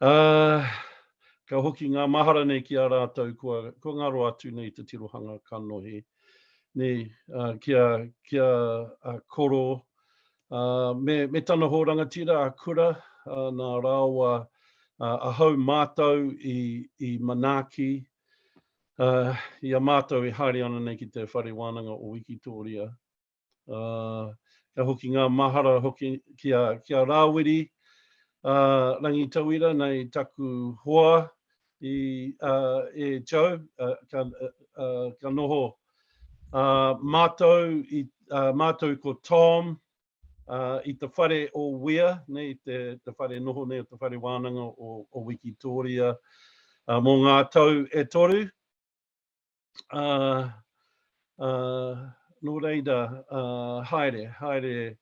Ā, ka hoki ngā mahara nei ki a rātou kua, kua ngaro atu nei te tirohanga kanohi nei, ā, ki a, ki a, a Koro, ā, me, me tana hō rangatira a Kura, ā, nā rāua, ā, ahau mātou i, i manaaki, ā, i a mātou e haere ana nei ki te Whare Wānanga o Wikitōria. ā, ka hoki ngā mahara hoki ki a, ki a Rāwiri, ā, Rangitauira, nei taku hoa i, ā, e Joe, ā, ka, ā, ka noho, ā, mātou i, ā, mātou ko Tom, ā, i te whare o Wea, nei te, te whare noho nei, te whare wānanga o, o Wikitōria, ā, mō ngā tau e toru. Uh, uh, nō reira, uh, haere, haere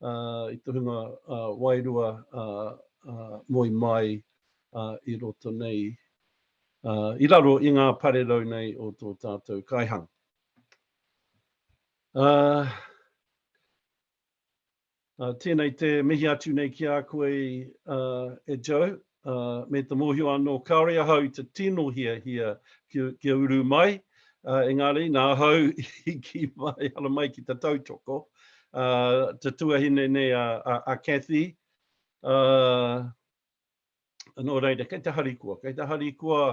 uh, i te hunga uh, wairua uh, uh, moi mai uh, i roto nei, uh, i raro i ngā parerau nei o tō tātou kaihang. Uh, Ā, tēnei te mihi atu nei ki a koe, ā, e Joe, ā, me te mōhio anō kāore ahau i te tino hiahia ki, kia uru mai, ā, engari, nā ahau i kī mai, ara mai ki te tautoko, ā, te tuahine nei a, a, a Cathy, ā, Nō reira, kei te harikoa, kei te harikoa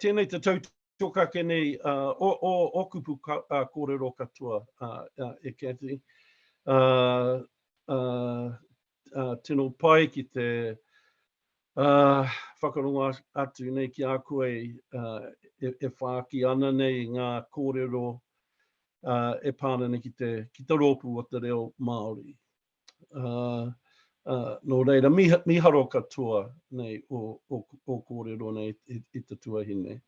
tēnei te tautokake nei o kupu kōrero katoa e Cathy. Tino pai ki te whakarongo atu nei ki a koe e whāki ana nei ngā kōrero e pā ana nei ki te rōpū o te reo Māori. Nō reira, mīharo katoa nei ō kōrero nei i te tuahine.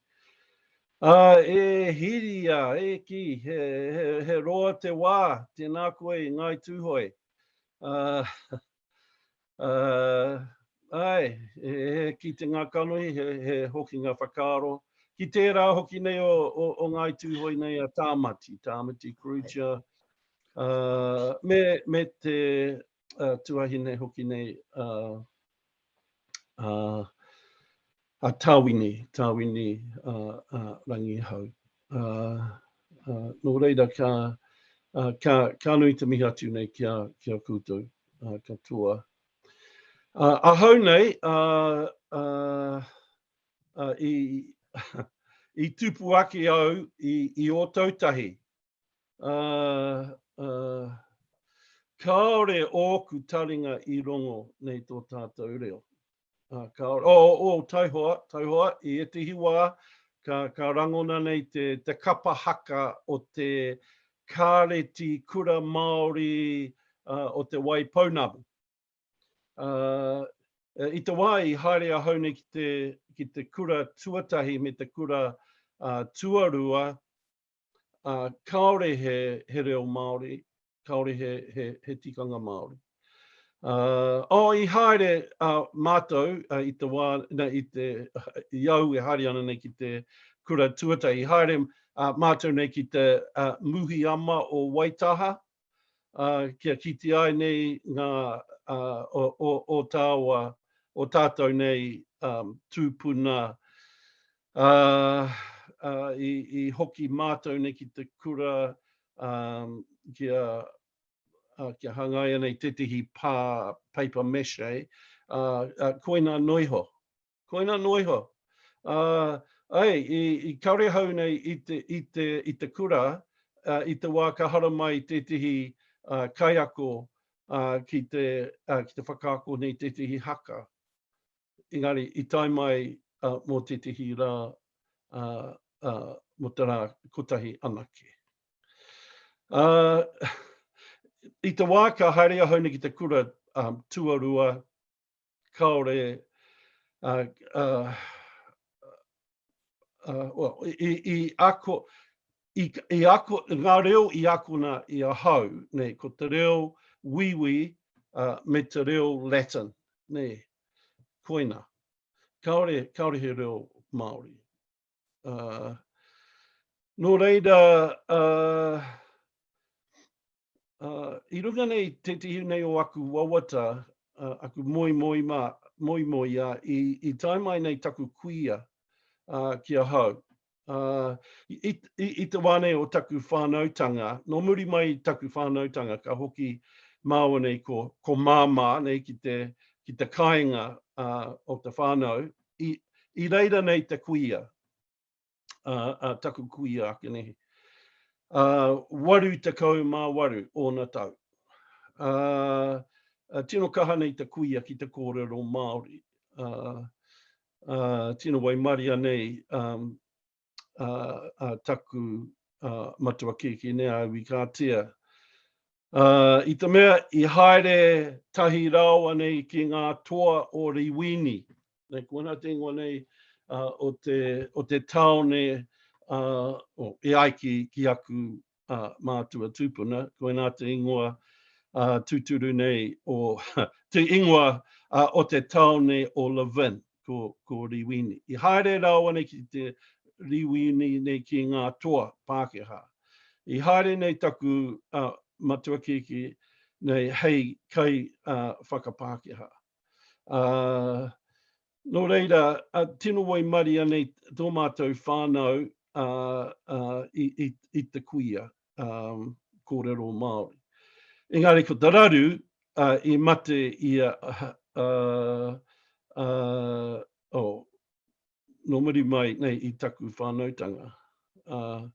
E Hiria, e kī, he roa te wā, tēnā koe i Ngāi Tūhoe. Āe, he kite ngā kanohi, he hoki ngā whakaaro. Ki tērā hoki nei o Ngāi Tūhoe nei a Tāmati, Tāmati Crutcher, Ā, me, me te ā, tuahine hoki nei a, a, a Tāwini, Tāwini ā, ā, Rangihau. Ā, ā, nō reira ka, ā, ka, ka nui te mihi atu nei ki a, ki a koutou ā, katoa. Ā, ahau nei, ā, ā, ā, i, i tupu ake au i, i Ōtautahi, Ā, ā, kāore ōku taringa i rongo nei tō tātou reo. Ā, kāore, ō, ō, taihoa, taihoa, i ētehi wā, ka, ka rangona nei te, te kapa haka o te Kāreti Kura Māori ā, o Te Waipounamu. Ā, i te wā i haere ahau nei ki te, ki te kura tuatahi me te kura, ā, tuarua, ā, kāore he, he reo Māori, kāore he, he, he tikanga Māori. Ā, oh, i haere ā mātou ā, i te wā, nei, i te, i au e haere ana nei ki te kura tuatahi, i haere ā mātou nei ki te ā, Muhiama o Waitaha, kia kite ai nei ngā o tāua, o tātou nei tūpuna i hoki mātou nei ki te kura kia hangaia nei tētehi pā paper mache, koina noa iho. Koina noa iho. Ā, āe, i, i kare hau nei i te, i te, i te kura, ā, i te wā ka haramai tētehi ā, kaiako ā, ki te, ā, ki te whakaako nei tētehi haka. Engari, i tae mai ā, mō tētehi rā, ā, ā, mō te rā kotahi anake. Ā, i te wā ka haere ahau nei ki te kura ā, tuarua, kāore uh, uh, uh, well, i, i ako, i, i ako, ngā reo i akona i a hau, nei, ko te reo wiwi uh, me te reo Latin, nei, koina. Kāore, kāore he reo Māori. Uh, nō reira, uh, I runga nei tētehi nei o aku wawata, aku moimoia i tae mai nei taku kuia ki ahau. I te wā nei o taku whānautanga, nō muri mai i taku whānautanga ka hoki māua nei ko Māmā nei ki te kāinga o te whānau, i reira nei te kuia. uh, uh, taku kuia ake nehe. Uh, waru te kau mā waru ōna tau. Uh, uh, tino kaha nei te kuia ki te kōrero Māori. Uh, uh, tino waimaria nei um, uh, uh, taku uh, matua kēkē nei a Iwi Kātea. Uh, I te mea i haere tahi rāoa nei ki ngā toa o Riwini, nei ko ana te ingoa nei o te, o te taone uh, e ai ki, ki aku uh, mātua tūpuna, ko ana te ingoa uh, tūturu nei o te ingoa uh, o te taone o Levin, ko, ko Riwini. I haere rāua nei ki te Riwini nei ki ngā toa Pākehā. I haere nei taku uh, matua kiki nei hei kai uh, whakapākehā. Uh, no reira, uh, tino waimaria nei tō mātou whānau uh, uh, i, i, i te kuia um, kōrero Māori. Engari ko te raru uh, i mate i a... Uh, uh, oh, no muri mai nei i taku whānautanga. Uh,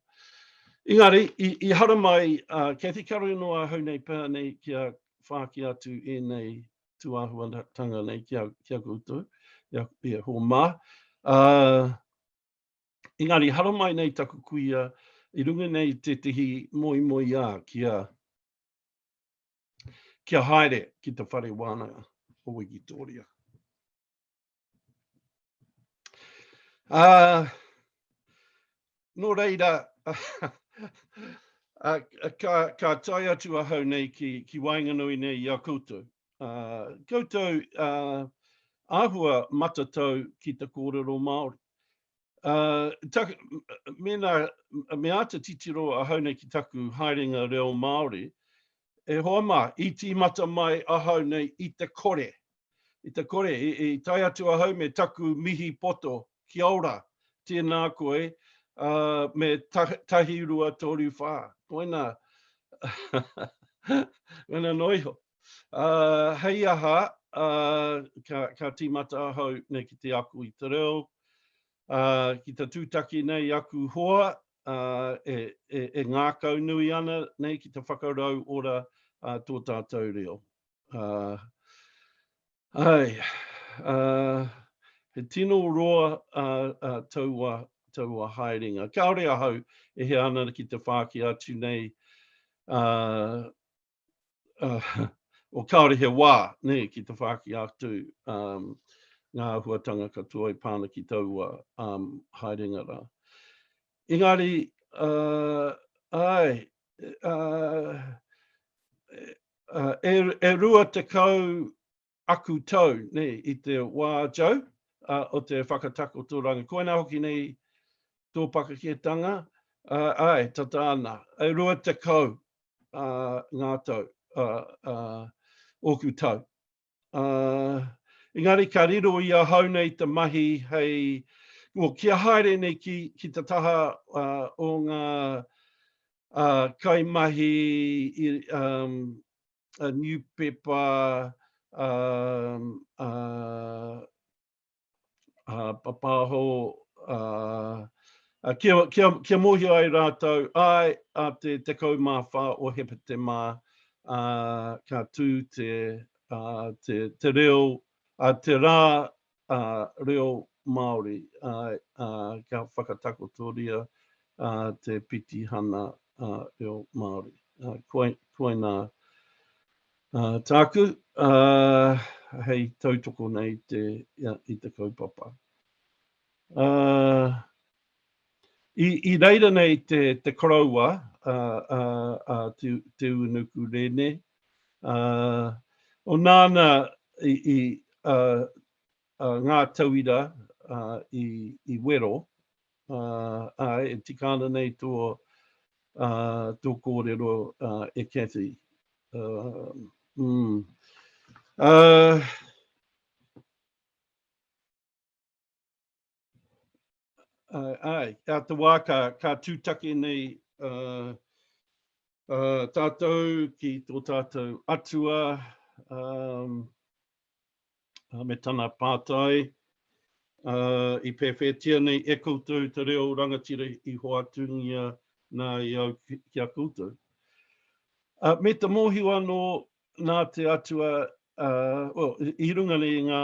engari, i, i hara mai, uh, Kathy Karunoa hau nei pēa nei ki a whāki atu e nei tūāhuatanga nei ki a, ki a koutou, i a, i a Hōmā. Uh, engari, haramai nei taku kuia, i runga nei tētehi moi moi a ki a, ki a haere ki te whare wānanga o Wikitoria. Ā, nō reira, ā, ka, ka tae atu ahau nei ki, ki waenganui nei i a koutou. Ā, koutou, ā, āhua matatau ki te kōrero Māori. Uh, tak, mena, me āta titiro ahau nei ki taku haerenga reo Māori, e hoa mā, i tīmata mai ahau nei i te kore. I te kore, i, i tai atu ahau me taku mihi poto, ki aura, tēnā koe, uh, me ta, tahi rua tōru whā. Koina, koina noiho. Hei aha, ka tīmata ahau nei ki te ako i te reo, ki te tūtaki nei aku hoa e ngākau nui ana nei ki te whakarau ora tō tātou reo. Ae, he tino roa taua haerenga. Kāore ahau e hea ana ki te whāki atu nei uh, o kāore he wā, ne, ki te whāki atu um, ngā huatanga katoa i pāna ki taua um, haerenga rā. Engari, uh, ai, uh, uh, e, e rua te kau aku tau nei i te wā tau o te whakatakotoranga. Koinā hoki nei tō pakaketanga, āe, tata ana, e rua tekau ngā tau ōku tau. Engari ka riro i ahau nei te mahi hei, kia haere nei ki te taha o ngā kaimahi a niupepa a a a papaho a a kia kia kia mohio ai rātou ai a te 14 o Hepetema a ka tū te a te te reo a te rā ā, reo Māori, ā, ā, kia whakatakotoria, ā, te pitihana, ā, reo Māori. Ā, koa, koinā, ā, tāku, ā, hei tautoko nei i te, ia, i te kaupapa. Ā, i, i reira nei te, te koroua, ā, ā, ā, Te, Te Unuku Rene, Ā, o nāna i, i ā, ā, ngā tauira ā, i, i wero, ā, āe, e tika ana nei tō, ā, tō kōrero, ā, e Cathy. Ā, mm. Ā, Uh, ai, a te wā ka, ka tūtake nei uh, uh, tātou ki tō tātou atua um, uh, me tana pātai uh, i pēwhētia nei e koutou te reo rangatira i hoatungia nā i au ki, ki a koutou. Uh, me te mōhiwa anō nā te atua, uh, well, i runga nei ngā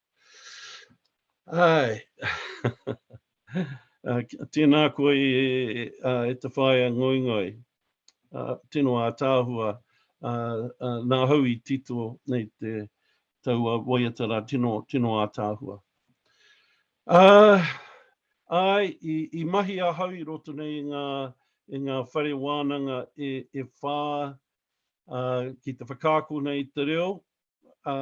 Ai. uh, tēnā koe e, e, uh, e te whaea ngoingoi, uh, tino ātāhua, uh, uh, nā hau i tito nei te taua waiatara tino, tino ātāhua. Uh, ai, i, i mahi a hau i roto nei i ngā, i ngā whare wānanga e, e whā uh, ki te whakaako nei te reo, ā,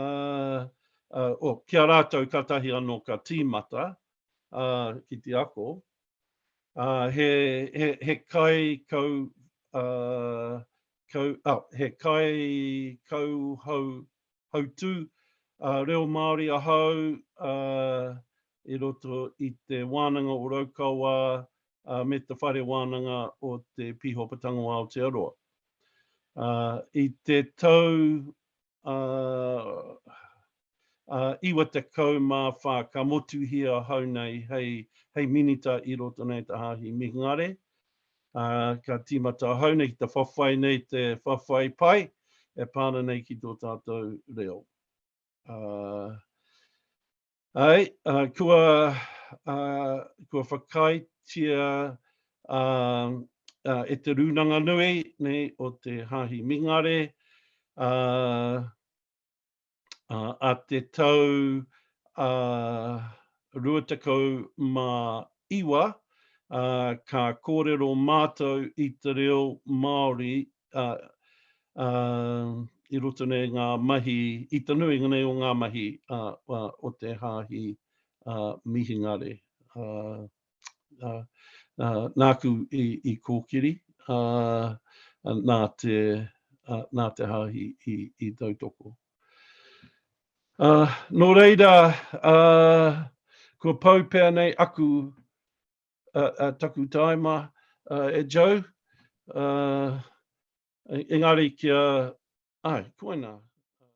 ā, oh, ki a rātou kātahi anō ka tīmata, ā, ki te ako, ā, he, he, he kai kau, ā, kau, oh, he kai kau hau, hautū, ā, reo Māori ahau, ā, i roto i te wānanga o Raukawa, ā, me te whare wānanga o te Pīhopa Tango Aotearoa. Ā, i te tau ā, ā, 94 ka motuhia ahau nei hei, hei minita i roto nei te Hāhi Mihingare, ā, ka tīmata ahau nei ki te whawhai nei te whawhai pai e pā ana nei ki tō tātou reo. Ā. Ae, kua kua whakaaetia e Te Rūnanga Nui nei o te Hāhi Mingare a te tau 29 ka kōrero mātou i te reo Māori i roto nei ngā mahi, i te nuinga nei o ngā mahi o te Hāhi Mihingare. Nāku i kōkiri, nā te Hāhi i tautoko. Nō reira, kua pau pea nei aku uh, uh, taku taima uh, e Joe. Uh, engari kia, ai, koina.